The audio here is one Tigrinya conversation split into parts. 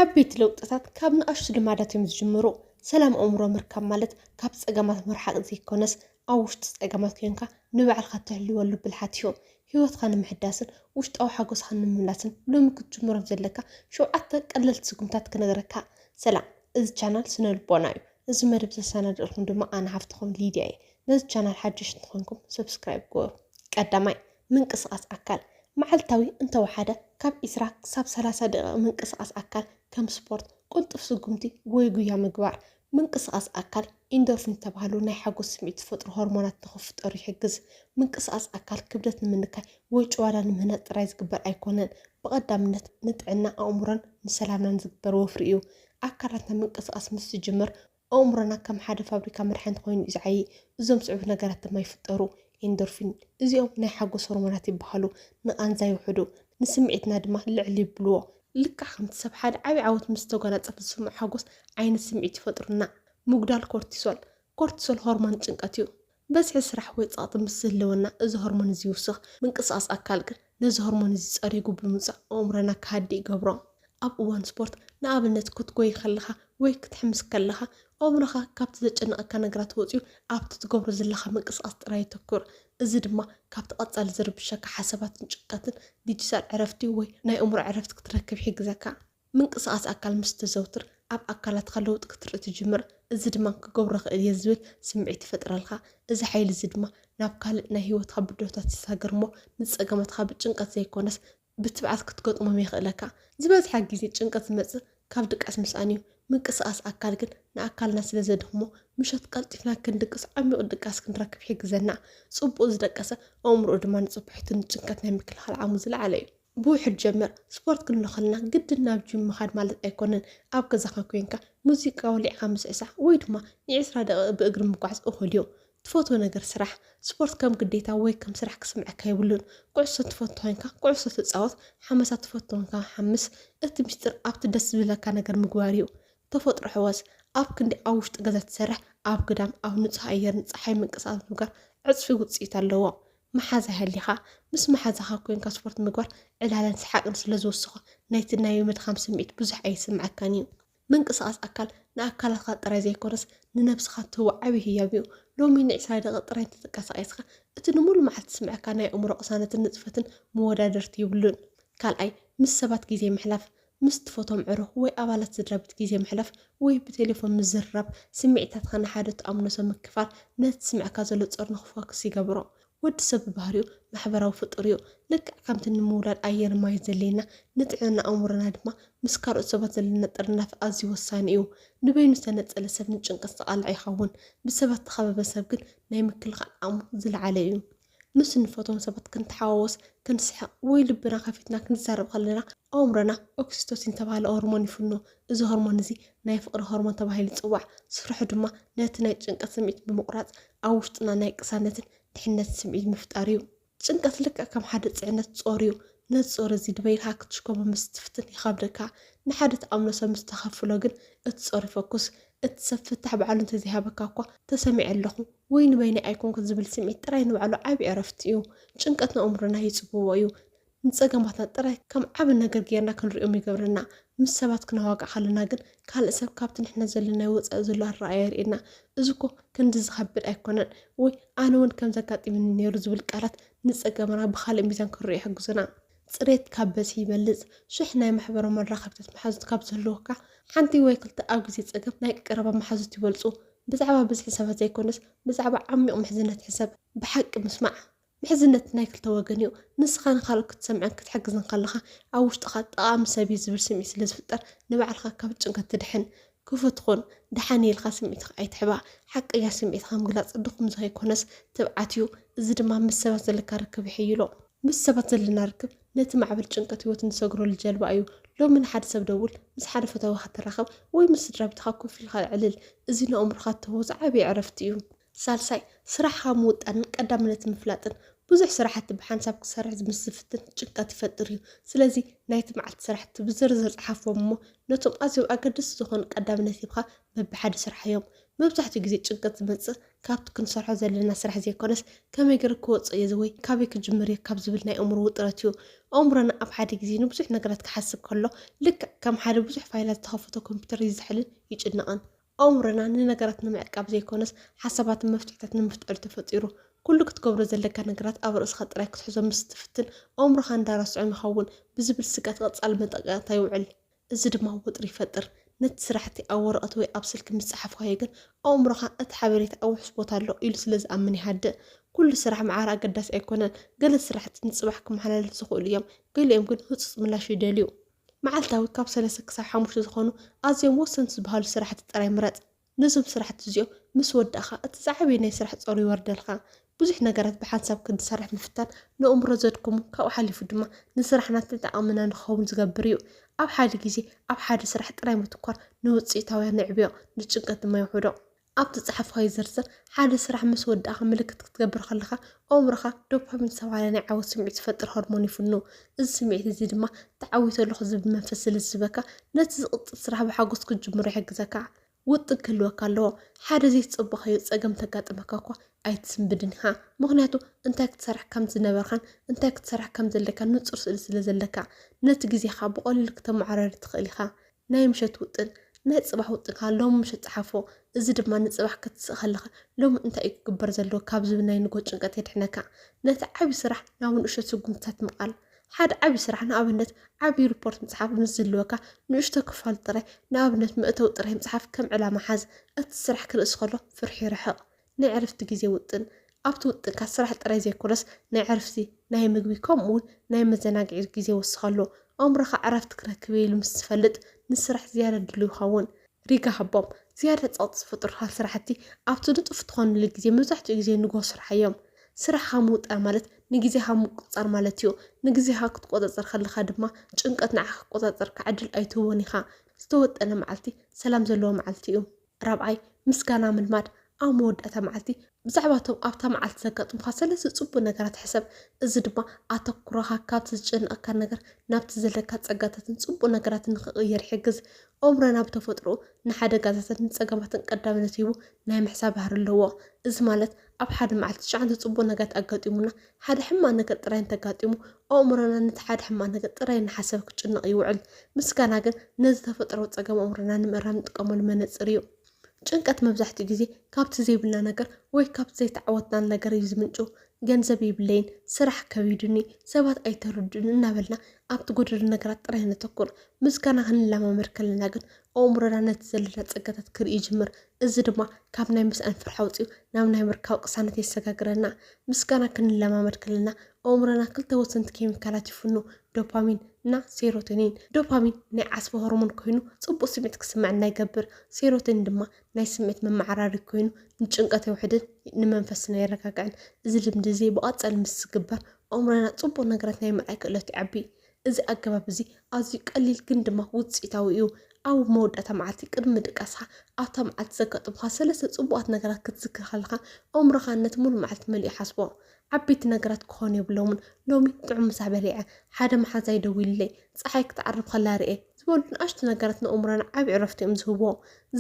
ዓበይቲ ለውጥታት ካብ ንኣሽቱ ልማዳት እዮም ዝጅምሩ። ሰላም ኣእምሮ ምርካብ ማለት ካብ ጸገማት ምርሓቕ ዘይኰነስ፣ ኣብ ውሽጢ ጸገማት ኴንካ ንባዕልኻ እተህልወሉ ብልሓት እዩ። ህይወትካ ንምሕዳስን ውሽጣዊ ሓጐስኻ ንምምላስን ሎሚ ክትጅምሮም ዘለካ ሸውዓተ ቀለልቲ ስጉምትታት ክነግረካ። ሰላም እዚ ቻናል ስነ ልቦና እዩ እዚ መደብ ዘሰናድእልኩም ድማ ኣነ ሓፍትኹም ሊድያ እየ ነዚ ቻናል ሓደሽቲ እንተኾይንኩም ሰብስክራይብ ግበሩ ቀዳማይ ምንቅስቓስ ኣካል፣ መዓልታዊ እንተወሓደ ካብ ዕስራ ክሳብ ሰላሳ ደቒቕ ምንቅስቓስ ኣካል፣ ከም ስፖርት፣ ቅልጡፍ ስጉምቲ ወይ ጉያ ምግባር። ምንቅስቓስ ኣካል፣ ኢንዶርፊን ዝተባህሉ ናይ ሓጎስ ስምዒት ዝፈጥሩ ሆርሞናት ንኽፍጠሩ ይሕግዝ። ምንቅስቓስ ኣካል ክብደት ንምንካይ ወይ ጭዋዳ ንምህናጽ ጥራይ ዝግበር ኣይኰነን፣ ብቐዳምነት ንጥዕና ኣእምሮን ንሰላምናን ዝግበር ወፍሪ እዩ። ኣካላትና ምንቅስቓስ ምስ ዝጅምር፣ ኣእምሮና ከም ሓደ ፋብሪካ መድሓኒት ኮይኑ እዩ ዝዓዪ። እዞም ዝስዕቡ ነገራት ድማ ይፍጠሩ፣ ኢንዶርፊን፣ እዚኦም ናይ ሓጎስ ሆርሞናት ይበሃሉ፣ ንቓንዛ የውሕዱ፣ ንስምዒትና ድማ ልዕል የብልዎ። ልክዕ ከምቲ ሰብ ሓደ ዓቢ ዓወት ምስ ዝተጓናጸፈ ዝስምዖ ሓጎስ ዓይነት ስምዒት ይፈጥሩልና። ምጉዳል ኮርቲሶል፣ ኮርቲሶል ሆርሞን ጭንቀት እዩ። በዝሒ ስራሕ ወይ ጸቕጢ ምስ ዝህልወና እዚ ሆርሞን እዚ ይውስኽ። ምንቅስቓስ ኣካል ግን ነዚ ሆርሞን እዚ ጸሪጉ ብምውጻእ ኣእምሮና ክሃድእ ይገብሮ። ኣብ እዋን ስፖርት፣ ንኣብነት ክትጎዪ ከለኻ ወይ ክትሕምስ ከለኻ፣ ኣእምሮኻ ካብቲ ዘጨንቐካ ነገራት ወጺኡ ኣብቲ ትገብሮ ዘለኻ ምንቅስቓስ ጥራይ የተኩር። እዚ ድማ ካብቲ ቀጻሊ ዝርብሸካ ሓሳባትን ጭንቀትን ዲጂታል ዕረፍቲ ወይ ናይ ኣእምሮ ዕረፍቲ ክትረክብ ይሕግዘካ። ምንቅስቓስ ኣካል ምስ እተዘውትር፣ ኣብ ኣካላትካ ለውጢ ክትርኢ ትጅምር፣ እዚ ድማ ክገብሮ እኽእል እየ ዝብል ስምዒት ይፈጥረልካ። እዚ ሓይሊ እዚ ድማ ናብ ካልእ ናይ ህይወትካ ብድሆታት ይሰጋገር እሞ ንጸገማትካ ብጭንቀት ዘይኰነስ ብትብዓት ክትገጥሞም የኽእለካ። ዝበዝሐ ግዜ ጭንቀት ዝመጽእ ካብ ድቃስ ምስኣን እዩ። ምንቅስቓስ ኣካል ግን ንኣካልና ስለ ዘድኽሞ፣ ምሸት ቀልጢፍና ክንድቅስ ዓሚቝ ድቃስ ክንረክብ ይሕግዘና። ጽቡቕ ዝደቀሰ ኣእምሮኡ ድማ ንጽባሒቱ ንጭንቀት ናይ ምክልኻል ዓቕሙ ዝለዓለ እዩ። ብውሕድ ጀምር፣ ስፖርት ክንብሎ ከለና ግድን ናብ ጂም ምኻድ ማለት ኣይኮነን፣ ኣብ ገዛኻ ኮይንካ ሙዚቃ ወሊዕኻ ምስዕሳዕ ወይ ድማ ንዒስራ ደቒቕ ብእግሪ ምጓዓዝ እኹል እዩ። ትፈትዎ ነገር ስራሕ፣ ስፖርት ከም ግዴታ ወይ ከም ስራሕ ክስምዐካ የብሉን። ኩዕሶ እትፈቱ ኮይንካ ኩዕሶ ተጻወት፣ ሓመሳ ትፈቱ ኮይንካ ሓምስ፣ እቲ ምስጢር ኣብቲ ደስ ዝብለካ ነገር ምግባር እዩ። ተፈጥሮ ሕወስ፣ ኣብ ክንዲ ኣብ ውሽጢ ገዛ ትሰርሕ ኣብ ግዳም ኣብ ንጹህ ኣየርን ጸሓይን ምንቅስቓስ ምግባር ዕጽፊ ውጽኢት ኣለዎ። መሓዛ ሃሊኻ፣ ምስ መሓዛኻ ኮይንካ ስፖርት ምግባር ዕላለን ሰሓቕን ስለ ዝውስኾ፣ ናይቲ ናይ ምድኻም ስምዒት ብዙሕ ኣይስምዓካን እዩ። ምንቅስቓስ ኣካል ንኣካላትካ ጥራይ ዘይኮነስ ንነብስኻ ትህቦ ዓቢ ህያብ እዩ። ሎሚ ን ዕስራ ደቒቕ ጥራይ እንተ ተቀሳቂስካ፣ እቲ ንሙሉእ መዓልቲ ዝስምዐካ ናይ ኣእምሮ ቅሳነትን ንጥፈትን መወዳድርቲ ዩብሉን። ካልኣይ፣ ምስ ሰባት ግዜ ምሕላፍ። ምስ ትፈትዎም ዕሩኽ ወይ ኣባላት ስድራቤት ግዜ ምሕላፍ ወይ ብቴሌፎን ምዝርራብ፣ ስምዒታትካ ንሓደ ትኣምኖ ሰብ ምክፋል ነቲ ዝስምዕካ ዘሎ ጾር ንኽፎክስ ይገብሮ። ወዲ ሰብ ብባህሪኡ ማሕበራዊ ፍጡር እዩ። ልክዕ ከምቲ ንምውላድ ኣየርን ማይን ዘድልየና፣ ንጥዕና ኣእምሮና ድማ ምስ ካልኦት ሰባት ዘለና ጥርናፈ ኣዝዩ ወሳኒ እዩ። ንበይኑ ዝተነጸለ ሰብ ንጭንቀት ዝተቓልዐ ይኸውን፣ ብሰባት ዝተኸበበ ሰብ ግን ናይ ምክልኻል ዓቕሙ ዝለዓለ እዩ። ምስ እንፈትዎም ሰባት ክንተሓዋወስ፣ ክንስሕቕ ወይ ልብና ከፊትና ክንዛረብ ከለና ኣእምሮና ኦክሲቶሲን ዝተባህለ ሆርሞን ይፍኖ። እዚ ሆርሞን እዚ ናይ ፍቕሪ ሆርሞን ተባሂሉ ይጽዋዕ። ስርሑ ድማ ነቲ ናይ ጭንቀት ስምዒት ብምቑራጽ ኣብ ውሽጥና ናይ ቅሳነትን ድሕነትን ስምዒት ምፍጣር እዩ። ጭንቀት ልክዕ ከም ሓደ ጽዕነት ጾር እዩ። ነዚ ጾር እዚ ድበይ ኢልካ ክትሽከሞ ምስ ትፍትን ይኸብደካ። ንሓደ ትኣምኖ ሰብ ምስ ተኸፍሎ ግን እቲ ጾር ይፈኩስ። እቲ ሰብ ፍታሕ ባዕሉ እንተዘይሃበካ እኳ ተሰሚዐ ኣለኹ፣ ወይ ንበይነይ ኣይኮንኩን ዝብል ስምዒት ጥራይ ንባዕሉ ዓቢ ዕረፍቲ እዩ። ጭንቀት ንኣእምሮና ይጽብቦ እዩ። ንጸገማትና ጥራይ ከም ዓቢ ነገር ጌርና ክንርእዮም ይገብረና። ምስ ሰባት ክነዋግዕ ከለና ግን ካልእ ሰብ ካብቲ ንሕና ዘለናዮ ወጻኢ ዘሎ ኣረኣእያ የርእየና። እዚ እኮ ክንድዚ ዝኸብድ ኣይኮነን ወይ ኣነ እውን ከምዚ ኣጋጢሙኒ ነይሩ ዝብል ቃላት ንጸገምና ብኻልእ ሚዛን ክንርእዮ ይሕግዙና። ጽሬት ካብ በዝሒ ይበልጽ። ሽሕ ናይ ማሕበራዊ መራኸብታት መሓዙት ካብ ዝህልዉካ፣ ሓንቲ ወይ ክልተ ኣብ ግዜ ጸገም ናይ ቀረባ መሓዙት ይበልጹ። ብዛዕባ ብዝሒ ሰባት ዘይኰነስ፣ ብዛዕባ ዓሚቝ ምሕዝነት ሕሰብ። ብሓቂ ምስማዕ፣ ምሕዝነት ናይ ክልተ ወገን እዩ። ንስኻ ንኻልኦት ክትሰምዕን ክትሕግዝን ከለኻ፣ ኣብ ውሽጥኻ ጠቓሚ ሰብ እዩ ዝብል ስምዒት ስለ ዝፍጠር፣ ንባዕልኻ ካብ ጭንቀት ትድሕን። ክፉት ኹን፣ ደሓን እየ ኢልካ ስምዒትካ ኣይትሕባእ። ሓቀኛ ስምዒትካ ምግላጽ ድኹም ንኸይኰነስ ትብዓት እዩ፣ እዚ ድማ ምስ ሰባት ዘለካ ርክብ የሐይሎ። ምስ ሰባት ዘለና ርክብ ነቲ ማዕበል ጭንቀት ህይወት እንሰግረሉ ጀልባ እዩ። ሎሚ ንሓደ ሰብ ደውል፣ ምስ ሓደ ፈታዊኻ ተራኸብ፣ ወይ ምስ ስድራቤትካ ኮፍ ኢልካ ኣዕልል። እዚ ንኣእምሮኻ እትህቦ ዝዓበየ ዕረፍቲ እዩ። ሳልሳይ፣ ስራሕኻ ምውጣንን ቀዳምነት ምፍላጥን። ብዙሕ ስራሕቲ ብሓንሳብ ክትሰርሕ ምስ ዝፍትን ጭንቀት ይፈጥር እዩ። ስለዚ ናይቲ መዓልቲ ስራሕቲ ብዝርዝር ጽሓፎም እሞ ነቶም ኣዝዮም ኣገደስቲ ዝኾኑ ቀዳምነት ሂብካ በብሓደ ስርሓዮም። መብዛሕትኡ ግዜ ጭንቀት ዝመጽእ ካብቲ ክንሰርሖ ዘለና ስራሕ ዘይኮነስ ከመይ ገይረ ክወጾ እየ ወይ ካበይ ክጅምር እየ ካብ ዝብል ናይ ኣእምሮ ውጥረት እዩ። ኣእምሮና ኣብ ሓደ ግዜ ንብዙሕ ነገራት ክሓስብ ከሎ ልክዕ ከም ሓደ ብዙሕ ፋይላት ዝተኸፈቶ ኮምፒተር ይዝሕልን ይጭነቕን። ኣእምሮና ንነገራት ንምዕቃብ ዘይኮነስ ሓሳባትን መፍትሒታት ንምፍጣር'ዩ ተፈጢሩ። ኩሉ ክትገብሮ ዘለካ ነገራት ኣብ ርእስኻ ጥራይ ክትሕዞ ምስ እትፍትን፣ ኣእምሮኻ እንዳረስዖም ይኸውን ብዝብል ስግኣት ቀጻሊ መጠንቀቕታ የውዕል። እዚ ድማ ወጥሪ ይፈጥር። ነቲ ስራሕቲ ኣብ ወረቐት ወይ ኣብ ስልኪ ምስ ጸሓፍካዮ ግን ኣእምሮኻ እቲ ሓበሬታ ኣብ ውሑስ ቦታ ኣሎ ኢሉ ስለ ዝኣምን ይሃድእ። ኩሉ ስራሕ መዓረ ኣገዳሲ ኣይኮነን። ገለ ስራሕቲ ንጽባሕ ክመሓላለፍ ዝኽእሉ እዮም፣ ገሊኦም ግን ህጹጽ ምላሽ ይደልዩ። መዓልታዊ ካብ ሰለስተ ክሳብ ሓሙሽተ ዝኾኑ ኣዝዮም ወሰንቲ ዝበሃሉ ስራሕቲ ጥራይ ምረጽ። ነዞም ስራሕቲ እዚኦም ምስ ወዳእካ እቲ ዝዓበየ ናይ ስራሕ ጸሩ ይወርደልካ። ብዙሕ ነገራት ብሓንሳብ ክንሰርሕ ምፍታን ነእምሮ ዘድክሙ ካብኡ ሓሊፉ ድማ ንስራሕና ተጠቓምና ንክኸውን ዝገብር እዩ። ኣብ ሓደ ግዜ ኣብ ሓደ ስራሕ ጥራይ ምትኳር ንውጽኢታውያ ንዕብዮ፣ ንጭንቀት ድማ የውሕዶ። ኣብ ትጽሕፎይ ዝርዝር፣ ሓደ ስራሕ ምስ ወዳእካ ምልክት ክትገብር ከለኻ፣ ኣእምሮኻ ዶፓሚን ዝተባህለ ናይ ዓወት ስምዒት ዝፈጥር ሆርሞን ይፍኑ። እዚ ስምዒት እዚ ድማ ተዓዊተ ኣለኹ ዝብል መንፈስ ስለ ዝህበካ፣ ነቲ ዝቕጽል ስራሕ ብሓጎስ ክትጅምሮ ይሕግዘካ። ውጥን ክህልወካ ኣለዎ። ሓደ ዘይተጸበኻዮ ጸገም እንተጋጠመካ እኳ ኣይትስንብድን ኢኻ፣ ምኽንያቱ እንታይ ክትሰርሕ ከም ዝነበርካን እንታይ ክትሰርሕ ከም ዘለካን ንጹር ስእሊ ስለ ዘለካ። ነቲ ግዜኻ ብቐሊሉ ክተመዓራሪ ትኽእል ኢኻ። ናይ ምሸት ውጥን፣ ናይ ጽባሕ ውጥንካ ሎሚ ምሸት ጽሓፎ፣ እዚ ድማ ንጽባሕ ክትስእ ከለኻ ሎሚ እንታይ እዩ ክግበር ዘለዎ ካብ ዝብል ናይ ንግሆ ጭንቀት የድሕነካ። ነቲ ዓቢ ስራሕ ናብ ንእሽቶ ስጉምትታት ምቓል፣ ሓደ ዓቢ ስራሕ ንኣብነት ዓቢ ሪፖርት ምጽሓፍ ምስ ዝህልወካ ንእሽቶ ክፋሉ ጥራይ ንኣብነት መእተዊ ጥራይ ምጽሓፍ ከም ዕላማ ሓዝ። እቲ ስራሕ ክንእስ ከሎ ፍርሒ ይርሕቕ። ናይ ዕረፍቲ ግዜ ውጥን፣ ኣብቲ ውጥንካ ስራሕ ጥራይ ዘይኮነስ ናይ ዕርፍቲ፣ ናይ ምግቢ ከምኡ'ውን ናይ መዘናግዒ ግዜ ወስኸሉ። ኣእምሮኻ ዕረፍቲ ክረክብ እየ ኢሉ ምስ ዝፈልጥ ንስራሕ ዝያዳ ድሉው ይኸውን። ሪጋ ሃቦም፣ ዝያዳ ጸቕጢ ዝፈጥሩልካ ስራሕቲ ኣብቲ ንጡፍ እትኾነሉ ግዜ፣ መብዛሕትኡ ግዜ ንግሆ ስርሓዮም። ስራሕኻ ምውጣን ማለት ንግዜኻ ምቁጽጻር ማለት እዩ። ንግዜኻ ክትቆጻጸር ከለኻ ድማ ጭንቀት ንዓኻ ክቆጻጸረካ ዕድል ኣይትህቦን ኢኻ። ዝተወጠነ መዓልቲ ሰላም ዘለዎ መዓልቲ እዩ። ራብዓይ፣ ምስጋና ምልማድ፣ ኣብ መወዳእታ መዓልቲ ብዛዕባ እቶም ኣብታ መዓልቲ ዘጋጥሙኻ ሰለስተ ጽቡቕ ነገራት ሕሰብ፣ እዚ ድማ ኣተኩሮኻ ካብቲ ዝጨንቐካ ነገር ናብቲ ዘለካ ጸጋታትን ጽቡቕ ነገራትን ንኽቕየር ይሕግዝ። ኣእምሮና ብተፈጥሮኡ ንሓደጋታትን ንጸገማትን ቀዳምነት ሂቡ ናይ ምሕሳብ ባህሪ ኣለዎ። እዚ ማለት ኣብ ሓደ መዓልቲ ትሽዓንተ ጽቡቕ ነገራት ኣጋጢሙና ሓደ ሕማቕ ነገር ጥራይ እንተጋጢሙ፣ ኣእምሮና ነቲ ሓደ ሕማቕ ነገር ጥራይ እናሓሰበ ክጭነቕ ይውዕል። ምስጋና ግን ነዚ ተፈጥሮኣዊ ጸገም ኣእምሮና ንምእራም እንጥቀመሉ መነጽር እዩ። ጭንቀት መብዛሕትኡ ግዜ ካብቲ ዘይብልና ነገር ወይ ካብቲ ዘይተዓወትናሉ ነገር እዩ ዝምንጩ። ገንዘብ የብለይን፣ ስራሕ ከቢዱኒ፣ ሰባት ኣይተረድኡንን እናበልና ኣብቲ ጎደሎ ነገራት ጥራይ ነተኩር። ምስጋና ክንለማመድ ከለና ግን ኣእምሮና ነቲ ዘለና ጸጋታት ክርኢ ይጅምር፣ እዚ ድማ ካብ ናይ ምስኣን ፍርሒ ኣውጺኡ ናብ ናይ ምርካብ ቅሳነት የሰጋግረና። ምስጋና ክንለማመድ ከለና ኣእምሮና ክልተ ወሰንቲ ኬሚካላት ይፍኑ፣ ዶፓሚን እና ሴሮቶኒን። ዶፓሚን ናይ ዓስቢ ሆርሞን ኮይኑ ጽቡቕ ስምዒት ክስመዐና ይገብር። ሴሮቶኒን ድማ ናይ ስምዒት መመዓራሪ ኮይኑ ንጭንቀት የውሕድን ንመንፈስና የረጋግዕን። እዚ ልምዲ እዚ ብቐጻሊ ምስ ዝግበር ኣእምሮና ጽቡቕ ነገራት ናይ ምርኣይ ክእለቱ ይዓቢ። እዚ ኣገባብ እዚ ኣዝዩ ቀሊል ግን ድማ ውጽኢታዊ እዩ። ኣብ መወዳእታ መዓልቲ ቅድሚ ምድቃስካ፣ ኣብታ መዓልቲ ዘጋጠሙኻ ሰለስተ ጽቡቓት ነገራት ክትዝክር ከለኻ፣ ኣእምሮኻ ነቲ ምሉእ መዓልቲ መሊኡ ይሓስቦ። ዓበይቲ ነገራት ክኾኑ የብሎምን፣ ሎሚ ጥዑም ምሳ በሊዐ፣ ሓደ መሓዛይ ደዊሉለይ፣ ጸሓይ ክትዓርብ ከላ ርኤ ዝበሉ ንኣሽቱ ነገራት ንኣእምሮና ዓቢ ዕረፍቲ እዮም ዝህብዎ።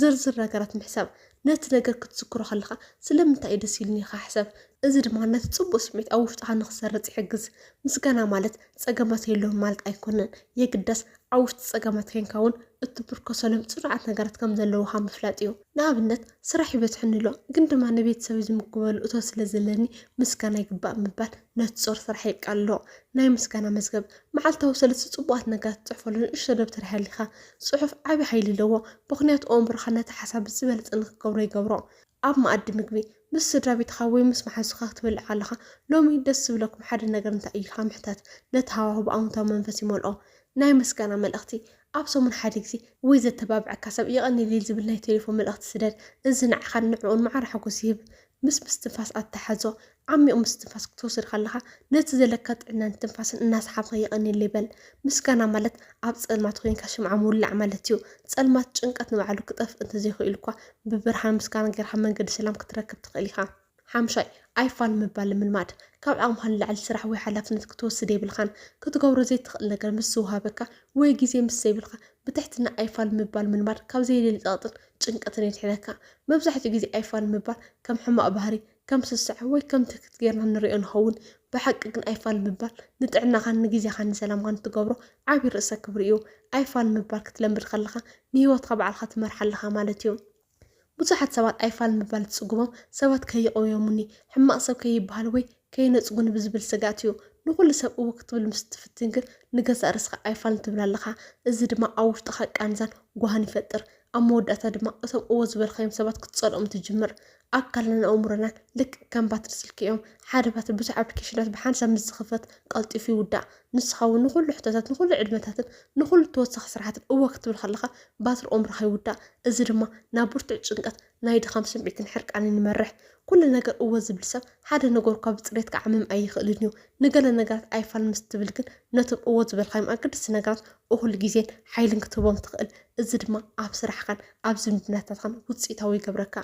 ዝርዝር ነገራት ምሕሳብ ነቲ ነገር ክትዝክሮ ከለኻ ስለምንታይ እዩ ደስ ኢሉኒ ኢልካ ሕሰብ። እዚ ድማ ነቲ ጽቡቕ ስምዒት ኣብ ውሽጥኻ ንኽሰርጽ ይሕግዝ። ምስጋና ማለት ጸገማት የለዉን ማለት ኣይኰነን፣ የግዳስ ኣብ ውሽጢ ጸገማት ኴንካ እውን እትምርኰሰሎም ጽኑዓት ነገራት ከም ዘለዉኻ ምፍላጥ እዩ። ንኣብነት፣ ስራሕ ይበዝሐኒ ኣሎ፣ ግን ድማ ንቤተሰበይ ዝምግበሉ እቶት ስለ ዘለኒ ምስጋና ይግባእ ምባል ነጾር ስራሕ የቃልሎ። ናይ ምስጋና መዝገብ፣ መዓልታዊ ሰለስተ ጽቡቓት ነገራት ትጽሕፈሉ ንእሽቶ ደብተር ሃሊኻ። ጽሑፍ ዓቢ ሓይሊ ኣለዎ፣ ምኽንያቱ ኣእምሮኻ ነቲ ሓሳብ ብዝበለጸ ንኽትገብሮ ይገብሮ። ኣብ መኣዲ ምግቢ፣ ምስ ስድራቤትኻ ወይ ምስ መሓዙትካ ክትበልዕ ከለኻ፣ ሎሚ ደስ ዝብለኩም ሓደ ነገር እንታይ እዩ? ኢልካ ምሕታት፣ ነቲ ሃዋሁ ብኣወንታዊ መንፈስ ይመልኦ። ናይ ምስጋና መልእኽቲ፣ ኣብ ሰሙን ሓደ ግዜ፣ ወይ ዘተባብዐካ ሰብ የቐንየለይ ዝብል ናይ ቴሌፎን መልእኽቲ ስደድ። እዚ ንዓኻን ንዕኡን ማዕረ ሓጐስ ይህብ። ምስ ምስትንፋስ ኣተሓሕዞ፣ ዓሚቝ ምስትንፋስ ክትወስድ ከለኻ ነቲ ዘለካ ጥዕናን ትንፋስን እናሰሓብካ የቐንየለይ በል። ምስጋና ማለት ኣብ ጸልማት ኮይንካ ሽምዓ ምውላዕ ማለት እዩ። ጸልማት፣ ጭንቀት ንባዕሉ ክጠፍእ እንተዘይክኢሉ'ኳ ብብርሃን ምስጋና ጌርካ መንገዲ ሰላም ክትረክብ ትኽእል ኢኻ። ሓምሻይ፣ ኣይፋል ምባል ምልማድ። ካብ ዓቕምኻ ንላዕሊ ስራሕ ወይ ሓላፍነት ክትወስድ የብልካን። ክትገብሮ ዘይትኽእል ነገር ምስ ዝወሃበካ ወይ ግዜ ምስ ዘይብልካ ብትሕትና ኣይፋል ምባል ምልማድ ካብ ዘየድሊ ጸቕጥን ጭንቀትን የድሕነካ። መብዛሕትኡ ግዜ ኣይፋል ምባል ከም ሕማቕ ባህሪ ከም ስስዐ ወይ ከም ትህክት ጌርና ንርእዮ ንኸውን። ብሓቂ ግን ኣይፋል ምባል ንጥዕናኻን ንግዜኻን ንሰላምካን እትገብሮ ዓቢ ርእሰ ክብሪ እዩ። ኣይፋል ምባል ክትለምድ ከለኻ ንህይወትካ ባዕልኻ ትመርሓ ኣለኻ ማለት እዩ። ብዙሓት ሰባት ኣይፋል ምባል ዝጽግሞም ሰባት ከይቕውዮሙኒ፣ ሕማቕ ሰብ ከይበሃል ወይ ከይነጽጉኒ ብዝብል ስግኣት እዩ። ንኹሉ ሰብ እወ ክትብል ምስ እትፍትን ግን ንገዛእ ርእስኻ ኣይፋልን ትብል ኣለኻ። እዚ ድማ ኣብ ውሽጥኻ ቃንዛን ጓህን ይፈጥር። ኣብ መወዳእታ ድማ እቶም እወ ዝበልካዮም ሰባት ክትጸልኦም ትጅምር። ኣካልናን ኣእምሮናን ልክዕ ከም ባትሪ ስልኪ እዮም። ሓደ ባትሪ ብዙሕ ኣፕሊኬሽናት ብሓንሳብ ምስ ዝኽፈት ቀልጢፉ ይውዳእ። ንስኻ እውን ንኹሉ ሕቶታት፣ ንኹሉ ዕድመታትን ንኹሉ ተወሳኺ ስራሓትን እወ ክትብል ከለኻ ባትሪ ኣእምሮኻ ይውዳእ። እዚ ድማ ናብ ብርቱዕ ጭንቀት፣ ናይ ድኻም ስምዒትን ሕርቃንን ይመርሕ። ኩሉ ነገር እወ ዝብል ሰብ ሓደ ነገር እኳ ብጽሬት ክዓምም ኣይኽእልን እዩ። ንገለ ነገራት ኣይፋል ምስ ትብል ግን ነቶም እወ ዝበልካዮም ኣገደስቲ ነገራት እኹል ግዜን ሓይልን ክትህቦም ትኽእል። እዚ ድማ ኣብ ስራሕኻን ኣብ ዝምድናታትካን ውፅኢታዊ ይገብረካ።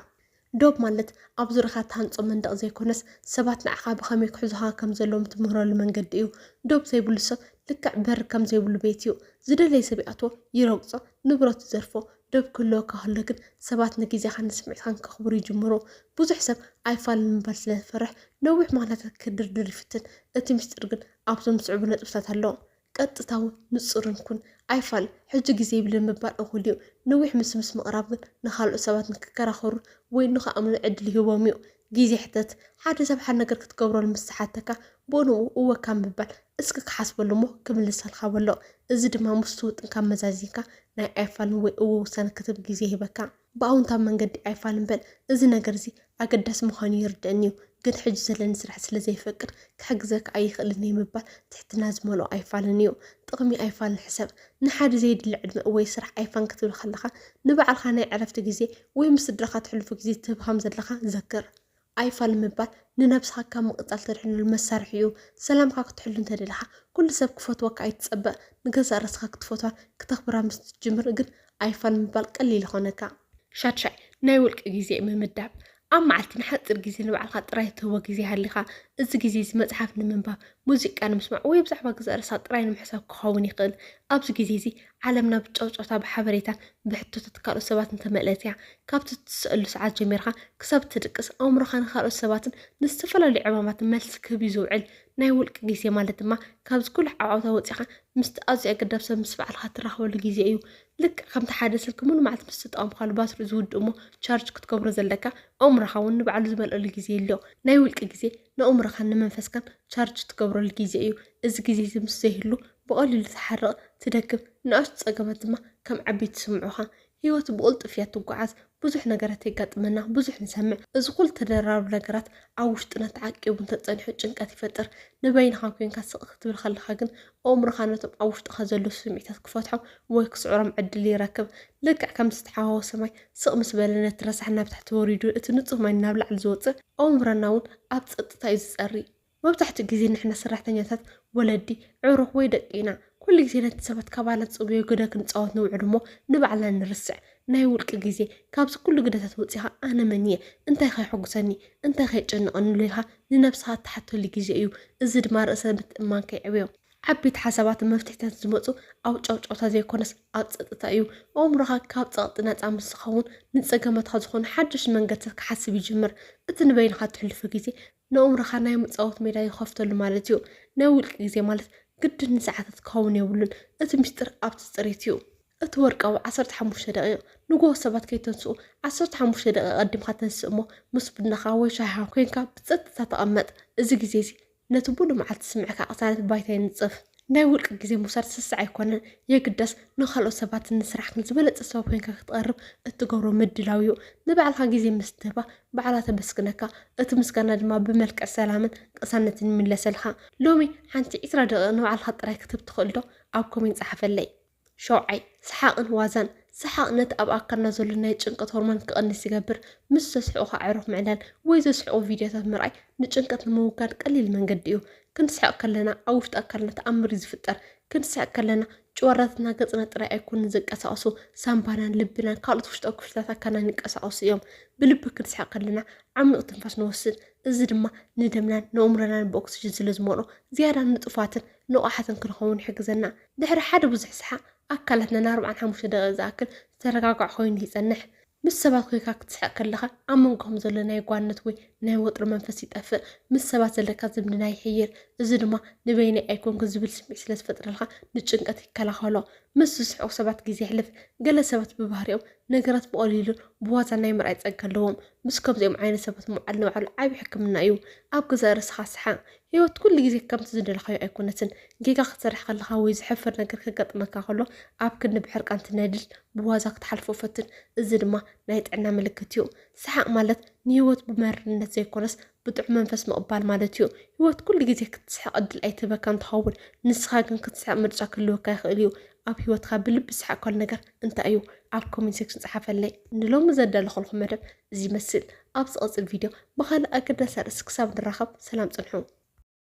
ዶብ ማለት ኣብ ዙርያኻ እትሃንፆ መንደቕ ዘይኮነስ ሰባት ንዓኻ ብኸመይ ክሕዙኻ ከም ዘለዎም እትምህረሉ መንገዲ እዩ። ዶብ ዘይብሉ ሰብ ልክዕ በሪ ከም ዘይብሉ ቤት እዩ። ዝደለየ ሰብ ይኣትዎ፣ ይረግፆ፣ ንብረቱ ይዘርፎ። ዶብ ክህልወካ ከሎ ግን ሰባት ንግዜኻን ንስምዒትካን ከኽብሩ ይጅምሩ። ብዙሕ ሰብ ኣይፋልን ምባል ስለ ዝፈርሕ ነዊሕ ምኽንያታት ክድርድር ይፍትን። እቲ ምስጢር ግን ኣብዞም ዝስዕቡ ነጥብታት ኣሎ። ቀጥታውን ንጹርን ኩን። ኣይፋል ሕጂ ግዜ የብልንን ምባል እኹል እዩ። ንዊሕ ምስምስ ምቕራብ ግን ንኻልኦት ሰባት ንክከራኸሩን ወይ ንኽኣምኑን ዕድል ይህቦም እዩ። ግዜ ሕተት። ሓደ ሰብ ሓደ ነገር ክትገብረሉ ምስ ዝሓተካ፣ ብኡ ንብኡ እወ ካብ ምባል፣ እስኪ ክሓስበሉ እሞ ክምልሰልካ በሎ። እዚ ድማ ምስቲ ውጥንካ መዛዚንካ ናይ ኣይፋልን ወይ እወ ውሳነ ክትህብ ግዜ ይህበካ። ብኣውንታዊ መንገዲ ኣይፋል እምበር እዚ ነገርዚ ኣገዳሲ ምዃኑ ይርደእኒዩ ግን ሕጂ ዘለኒ ስራሕ ስለ ዘይፈቅድ ክሕግዘካ ኣይኽእልንየ ምባል ትሕትና ዝመልኦ ኣይፋልንዩ። ጥቕሚ ኣይፋልን ሕሰብ። ንሓደ ዘይድለ ዕድመ ወይ ስራሕ ኣይፋን ክትብል ከለኻ ንባዕልኻ ናይ ዕረፍቲ ግዜ ወይ ምስ ስድራኻ ተሕልፎ ግዜ ትህብ ከም ዘለኻ ዘክር። ኣይፋል ምባል ንነብስኻ ካብ ምቕጻል ተድሕነሉ መሳርሒ እዩ። ሰላምካ ክትሕሉ እንተ ደሊኻ ኩሉ ሰብ ክፈትወካ ኣይትጸበ። ንገዛእ ርእስኻ ክትፈትዋን ክተኽብራ ምስ ትጅምር ግን ኣይፋል ምባል ቀሊል ይኾነካ። ሻድሻይ፣ ናይ ውልቂ ግዜ ምምዳብ። ኣብ መዓልቲ ንሓጺር ግዜ ንባዕልኻ ጥራይ ትህቦ ግዜ ይሃሊኻ። እዚ ግዜ እዚ መጽሓፍ ንምንባብ፣ ሙዚቃ ንምስማዕ ወይ ብዛዕባ ገዛእ ርእስኻ ጥራይ ንምሕሳብ ክኸውን ይኽእል። ኣብዚ ግዜ እዚ ዓለምና ብጨውጨውታ፣ ብሓበሬታን ብሕቶታት ካልኦት ሰባትን እተመልእት እያ። ካብቲ እትስእሉ ሰዓት ጀሚርካ ክሳብ እትድቅስ፣ ኣእምሮኻ ንኻልኦት ሰባትን ንዝተፈላለዩ ዕማማትን መልሲ ክህብ እዩ ዝውዕል። ናይ ውልቂ ግዜ ማለት ድማ ካብዚ ኩሉ ዓውዓውታ ወጺእካ ምስቲ ኣዝዩ ኣገዳብ ሰብ ምስ ባዕልኻ እትራኸበሉ ግዜ እዩ። ልክዕ ከምቲ ሓደ ስልኪ ምሉእ መዓልቲ ምስ ተጠቐምካሉ ባትሪኡ ዝውድእ እሞ ቻርጅ ክትገብሮ ዘለካ፣ ኣእምሮኻ እውን ንባዕሉ ዝመልኣሉ ግዜ ይህሉ። ናይ ውልቂ ግዜ ንኣእምሮኻን ንመንፈስካን ቻርጅ እትገብረሉ ግዜ እዩ። እዚ ግዜዚ ምስ ዘይህሉ፣ ብቐሊሉ ትሓርቕ፣ ትደክም፣ ንኣሽቱ ጸገማት ድማ ከም ዓበይቲ ይስምዑኻ። ህይወት ብቕልጡፍ እያ እትጓዓዝ፣ ብዙሕ ነገራት የጋጥመና፣ ብዙሕ ንሰምዕ፣ እዚ ኹሉ ተደራራቢ ነገራት ኣብ ውሽጥና ተዓቂቡ እንተጸኒሑ ጭንቀት ይፈጥር። ንበይንኻ ኴንካ ስቕ ክትብል ከለኻ ግን ኣእምሮኻ ነቶም ኣብ ውሽጥኻ ዘለዉ ስምዒታት ክፈትሖም ወይ ክስዕሮም ዕድል ይረክብ። ልክዕ ከም ዝተሓዋወሰ ማይ ስቕ ምስ በለ ነቲ ረሳሕ ናብ ታሕቲ ወሪዱ እቲ ንጹህ ማይ ናብ ላዕሊ ዝወጽእ፣ ኣእምሮና እውን ኣብ ጸጥታ እዩ ዝጸሪ። መብዛሕትኡ ግዜ ንሕና ሰራሕተኛታት ወለዲ፣ ኣዕሩኽ ወይ ደቂ ኢና። ኩሉ ግዜ ነቲ ሰባት ካባና ዝጽበዮ ግደ ክንጻወት ንውዕል እሞ ንባዕልና ንርስዕ። ናይ ውልቂ ግዜ፣ ካብዚ ኩሉ ግደታት ወጺኻ ኣነ መን እየ? እንታይከ የሐጉሰኒ? እንታይከ የጨንቐኒ? ኢልካ ንነብስኻ እትሓተሉ ግዜ እዩ። እዚ ድማ ርእሰ ምትእምማንካ የዕብዮ። ዓበይቲ ሓሳባትን መፍትሒታትን ዝመጹ ኣብ ጫውጫውታ ዘይኮነስ ኣብ ጸጥታ እዩ። ኣእምሮኻ ካብ ጸቕጢ ናጻ ምስ ዝኸውን ንጸገማትካ ዝኾኑ ሓደሽቲ መንገድታት ክሓስብ ይጅምር። እቲ ንበይንኻ እተሕልፎ ግዜ ንእምሮኻ ናይ ምጻወት ሜዳ ይኸፍተሉ ማለት እዩ። ናይ ውልቂ ግዜ ማለት ግድን ንሰዓታት ክኸውን የብሉን፣ እቲ ምስጢር ኣብቲ ጽሬት እዩ። እቲ ወርቃዊ ዓሰርተ ሓሙሽተ ደቒቕ፣ ንግሆ ሰባት ከይተንስኡ ዓሰርተ ሓሙሽተ ደቒቕ ኣቐዲምካ ተንስእ እሞ ምስ ቡናኻ ወይ ሻሂኻ ኮይንካ ብጸጥታ ተቐመጥ። እዚ ግዜ'ዚ ነቲ ምሉእ መዓልቲ ዝስምዕካ ቅሳነት ባይታ የንጽፍ። ናይ ውልቂ ግዜ ምውሳድ ስስዕ ኣይኮነን፣ የግዳስ ንኻልኦት ሰባት ንስራሕክን ዝበለጸ ሰብ ኮይንካ ክትቐርብ እትገብሮ ምድላው እዩ። ንባዕልኻ ግዜ ምስ ትህባ ባዕላ ተመስግነካ፣ እቲ ምስጋና ድማ ብመልክዕ ሰላምን ቅሳነትን ይምለሰልካ። ሎሚ ሓንቲ ዕስራ ደቒቕ ንባዕልኻ ጥራይ ክትህብ ትኽእልዶ? ኣብ ኮሜንት ጸሓፈለይ። ሸውዓይ፣ ሰሓቕን ዋዛን፣ ሰሓቕ ነቲ ኣብ ኣካልና ዘሎ ናይ ጭንቀት ሆርሞን ክቕንስ ይገብር፣ ምስ ዘስሕቑ ኣዕሩኽ ምዕላል ወይ ዘስሕቑ ቪድዮታት ምርኣይ ንጭንቀት ንምውጋድ ቀሊል መንገዲ እዩ። ክንስሕቕ ከለና ኣብ ውሽጢ ኣካልና ተኣምር እዩ ዝፍጠር። ክንስሕቕ ከለና ጭዋዳታትና ገጽና ጥራይ ኣይኮኑን ዝንቀሳቐሱ፣ ሳምባናን ልብናን ካልኦት ውሽጣዊ ክፍልታት ኣካልናን ይንቀሳቐሱ እዮም። ብልቢ ክንስሕቕ ከለና ዓሚቕ ትንፋስ ንወስድ፣ እዚ ድማ ንደምናን ንእምሮናን ብኦክስጅን ስለ ዝመልኦ ዝያዳ ንጡፋትን ንቑሓትን ክንኸውን ይሕግዘና። ድሕሪ ሓደ ብዙሕ ሰሓቕ፣ ኣካላትና ንኣርብዓን ሓሙሽተ ደቒቕ ዝኣክል ዝተረጋግዐ ኮይኑ ይጸንሕ። ምስ ሰባት ኮይንካ ክትስሕቕ ከለኻ፣ ኣብ መንጎኹም ዘሎ ናይ ጓንነት ወይ ናይ ወጥሪ መንፈስ ይጠፍእ። ምስ ሰባት ዘለካ ዝምድና ይሕይል፣ እዚ ድማ ንበይነይ ኣይኮንኩን ዝብል ስምዒት ስለ ዝፈጥረልካ ንጭንቀት ይከላኸሎ። ምስ ዝስሕቑ ሰባት ግዜ የሕልፍ። ገለ ሰባት ብባህሪኦም ነገራት ብቐሊሉን ብዋዛን ናይ ምርኣይ ጸጋ ኣለዎም። ምስ ከምዚኦም ዓይነት ሰባት ምውዓል ንባዕሉ ዓቢ ሕክምና እዩ። ኣብ ገዛእ ርእስኻ ስሓቕ። ህይወት ኩሉ ግዜ ከምቲ ዝደለኻዮ ኣይኮነትን። ጌጋ ክትሰርሕ ከለኻ ወይ ዘሕፍር ነገር ከጋጥመካ ከሎ ኣብ ክንዲ ብሕርቃን ትነድድ ብዋዛ ክትሓልፎ ፈትን። እዚ ድማ ናይ ጥዕና ምልክት እዩ። ሰሓቕ ማለት ንህይወት ብመሪርነት ዘይኮነስ ብጥዑም መንፈስ ምቕባል ማለት እዩ። ህይወት ኩሉ ግዜ ክትስሕቕ ዕድል ኣይትህበካን ትኸውን፣ ንስኻ ግን ክትስሕቕ ምርጫ ክህልወካ ይኽእል እዩ። ኣብ ህይወትካ ብልቢ ዝሰሓቕካሉ ነገር እንታይ እዩ? ኣብ ኮሜንት ሴክሽን ጸሓፈለይ። ንሎሚ ዘዳለኹልኩም መደብ እዚ ይመስል ኣብ ዝቕጽል ቪድዮ ብኻልእ ኣገዳሲ ኣርእስቲ ክሳብ ንራኸብ ሰላም ጽንሑ።